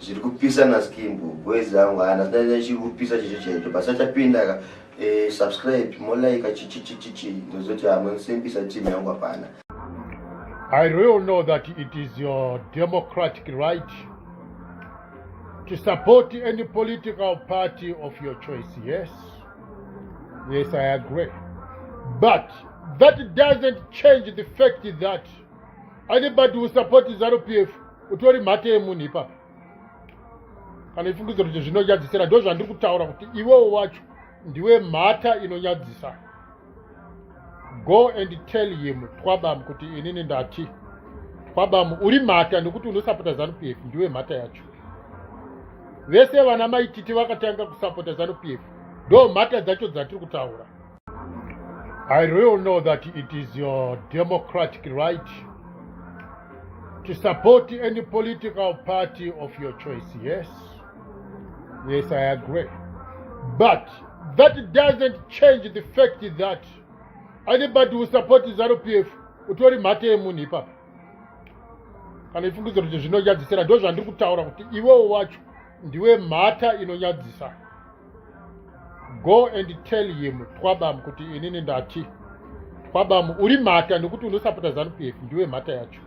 zviri kupisa na skimbo boys angu hana sinaita chiri kupisa chicho chaicho basi achapinda ka eh, subscribe molaika chichichichichi ndozoti hamwe simbisa team yangu hapana I really know that it is your democratic right to support any political party of your choice. Yes. Yes, I agree. But that doesn't change the fact that anybody who support zanu p f utori mhate yemunhu ipapo kana ifungidziro kuti zvinonyadzisira ndo zvandiri kutaura kuti iwewo wacho ndiwe mhata inonyadzisa go and tell him twabam kuti inini ndati twabam uri mhata nekuti unosapota zanu p f ndiwe mhata yacho vese vana maititi vakatanga kusapota zanu p f ndo mhata dzacho dzatiri kutaura I really know that it is your democratic right to support any political party of your choice. Yes. Yes, I agree. But that doesn't change the fact that anybody who supports ZANU PF utori mhate yemunhu ipapa kana ifungidziro kuti zvinonyadzisira ndozvandiri kutaura kuti iwewo wacho ndiwe mhata inonyadzisa go and tell him twabam kuti inini ndati twabam uri mhata nekuti unosapota zanupf ndiwe mhata yacho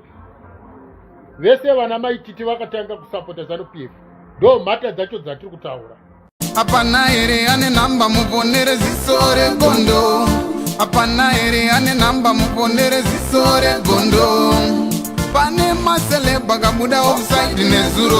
vese vana maititi vakatanga kusapota zanupf ndo mhata dzacho dzatiri kutaura hapana here ane nhamba muvonere ziso regondo hapana here ane nhamba muvonere ziso regondo pane maselebha kabuda ofsaidi nezuro